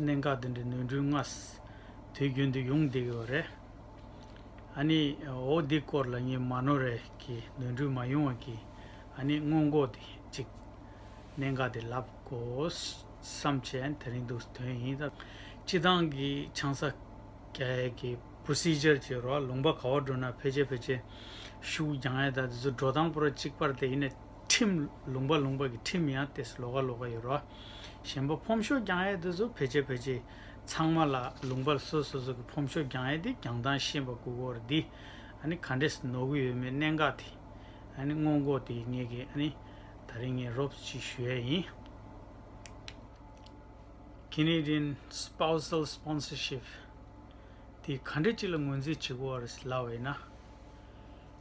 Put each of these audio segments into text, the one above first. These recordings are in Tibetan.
གནད་འགག་དེ་འདྲའི་ནོར་འཁྲུལ་སྔར་དུས་རྒྱུན་དུ་ཡོང་བསྡད་ཡོད་པ་རེད། ཨ་ནི་འོ་འདི་སྐོར་ལ་ངས་མ་ནོར་རེད་ཀྱི་ནོར་འཁྲུལ་མ་ཡོང་བ་གྱིས་ཨ་ནི་སྔོན་འགོག་དེ་གཅིག་གནད་འགག་དེ་ལབ་དགོས་བསམ་བྱས་དེ་རིང་དུ་དོན་ཡིན་ད། སྤྱི་བཏང་གི་ཆང་ས་རྒྱ་ཡས་ཀྱི Procedure གྱི་རོགས་ལུང་པ་ག་བ་འགྲོ་ན་ཕལ་ཆེར་ཕལ་ཆེར་ཤུགས་རྒྱང་ཡས་ད་དེ་ཚོ་འགྲོ་སྟངས་པོ་ར་གཅིག་པར་དེ་ཡིན་ན། ཁྲིམས། ལུང་པ་ལུང་པ་གི་ཁྲིམས་ཡང་ཏེས་ལོ་ག་ལོ་ག་ཡོད་རོ། གཞན་པ་ཕོམ་ཤོག་རྒྱང་ཡས་དེ་ཚོ་བེད་སྤྱད་བེད་སྤྱད། ཚང་མ་ལ་ལུང་པ་སོ་སོ་སོ་གི་ཕོམ་ཤོག་རྒྱང་ཡས་དེ་གྱང་ཐང་ཤན་པ་གུ་གོར་དེ། ཨ་ནི་ག་འདྲེས་ནོར་གི་ཡོད་མེད་གནད་འགག་དེ། ཨ་ནི་སྔོན་འགོག་དེ་ངེད་ཀྱི་ཨ་ནི། ད་རིང་ངས་རོབ་ས་ཅིག་ཞུ་ཡས་ཡིན། Canadian Spousal Sponsorship། དེ་ག་འདྲེ་ཅིག་ལ་ངོས་འཛིན་བྱེད་གོ་ཨ་རེས་ལ་བས་ན།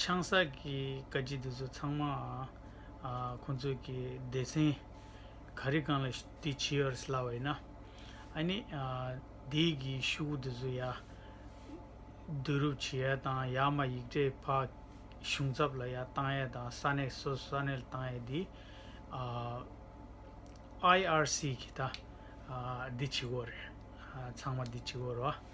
ཆང་ས་ཀྱི་བཀའ་སྤྱི་འདི་ཚོ་ཚང་མ་ཁོང་ཚོ་གི་སྡེ་ཚན་ག་རེ་གང་ལ་དེ་བྱེད་ཨར་སླ་བ་ཡིན་ན་ཨ་ནི་སྡེ་གི་ཤུགས་འདི་ཚོ་ཡ་བསྡུ་རུབ་བྱེད་ཡ་དང་ཡ་མ་ཡིག་འབྲེལ་ཕ་གཞུང་ཚབ་ལ་ཡ་བཏང་ཡ་དང་ས་གནས་སོ་ས་གནས་ལ་བཏང་ཡ་དེ་ཨའི་ཨར་སི་གི་ད་དེ་བྱེད་དགོས་རེད་ཚང་མ་དེ་བྱེད་དགོས་རེད་བ།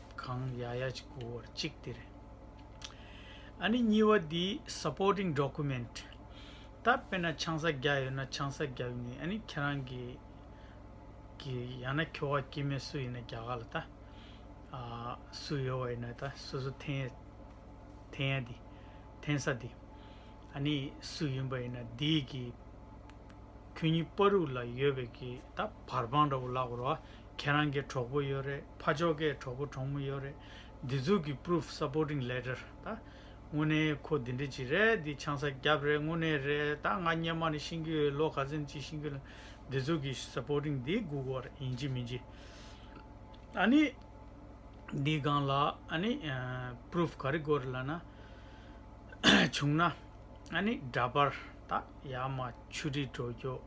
གང་ཡ་ཡ་ཅིག་གོ་བར་གཅིག་དེ་རེད། ཨ་ནི་གཉིས་བ་དེ supporting document ད་དཔེར་ན་ཆང་ས་བརྒྱ་ཡོད་ན་ཆང་ས་བརྒྱ་ཡོད་ནི་ཨ་ནི་ཁྱེད་རང་གི་གི་ཡང་ན་ཁྱོ་ག་སྐྱེས་མས་སུ་ཡིན་ན་བརྒྱ་ག་ལ་ད་ཨ་སུ་ཡོད་བ་ཡིན་ན་ད་སུ་སུ་འཐེན་ཡ་འཐེན་ཡ་དེ་འཐེན་ས་དེ་ཨ་ནི་སུ་ཡིན་པ་ཡིན་ན་དེ་གི་ཁྱོད་གཉིས་པ་རུག་ལ་ཡོད་པའི་གི་ད་བར་པང་འདྲ་བོ་ལག་བར་བ་ཁྱེད་རང་གི་གྲོགས་པོ་ཡོད་རེད་ཕ་ཕྱོགས་ཀའི་གྲོགས་པོ་གྲོགས་མོ་ཡོད་རེད་འདི་ཚོ་གི Proof Supporting Letter ད་དངོས་གནས་ཁོ་འདི་འདྲ་ཅིག་རེད་འདི་ཆང་ས་རྒྱབ་རེད་དངོས་གནས་རེད་ད་ང་སྙན་མ་ནས་ཤིང་གི་ཡོད་ལོ་ག་ཚན་གཅིག་ཤིང་གི་ལ་འདི་ཚོ་གི Supporting འདི་སྒུག་གོ་རེད་ཡིན་གྱི་མིན་གྱི་ཨ་ནི་འདི་སྒང་ལ་ཨ་ནི Proof ག་རེ་དགོས་རེད་ལ་ན་བྱུང་ན་ཨ་ནི་འདྲ་པར་ད་ཡག་མ་ཆུ་རིས་དྲོ་སྐྱོ།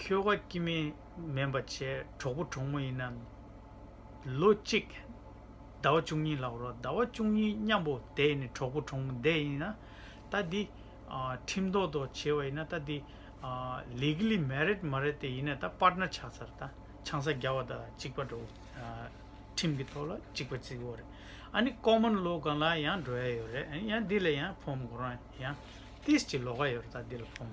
ཁྱོ་ག་སྐྱིད་མིན་སྨན་པ་བྱས་གྲོགས་པོ་གྲོགས་མོ་ཡིན་ནམ། ལོ་གཅིག། ཟླ་བ་བཅུ་གཉིས་ལ་རོགས་ཟླ་བ་བཅུ་གཉིས་མཉམ་པོ་བསྡད་ནས་གྲོགས་པོ་གྲོགས་མོ་བསྡད་ཡིན་ན། ལྟ་འདི། ཁྲིམས་ཐོག་ཐོག་བྱས་བ་ཡིན་ན་ལྟ་འདི། Legally married མ་རེད་དེ་ཡིན་ན་ད Partner ཆགས་ཚར་ལྟ་ཆང་ས་རྒྱ་བ་ད་གཅིག་པ་འགྲོ། ཁྲིམས་ཀྱི་ཐོག་ལ་གཅིག་པ་བརྩི་བོ་རེད། ཨ་ནི Common law གང་ལ་ཡང་འགྲོ་ཡ་ཡོད་རེད་ཡང་འདི་ལ་ཡང་ཕོམ་གོ་རང་ཡང། ཏིས་ཀྱི་ལོ་ག་ཡོད་རེད་ད་འདི་ལ་ཕོམ།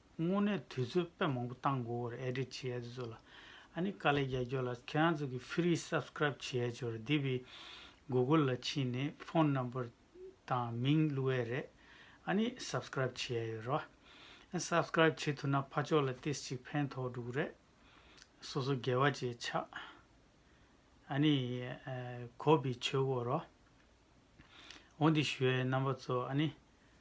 དངོས་གནས་དུས་ཚོད་དཔེ་མང་པོ་བཏང་དགོས་བར་ཨེ་དྲི་བྱེད་ཨེ་ཚོད་ལ། ཨ་ནི་དཀའ་ལས་རྒྱལ་ཁྱོད་ལ་ཁྱེད་རང་ཚོ་གི Free Subscribe བྱེད་ཨེ་ཆོག་རེད་དེ་བི Google ལ་ཕྱིན་ནས Phone Number དང་མིང་བླུ་ཨེ་རེད་ཨ་ནི Subscribe བྱེད་ཨེ་ཡོད་རོ། Subscribe བྱེད་ཐུབ་ན་ཕ་ཆོག་ལ་ཏིས་ཅིག་ཕན་ཐོག་འགྲུག་རེད། སོ་སོ་རྒྱལ་བ་བཅས་ཆགས་ཨ་ནི་གོ་བི་ཆོས་གོ་རོ། འོ་འདི་ཞུ་ཨེ་རྣམ་པ་ཚོ་ཨ་ནི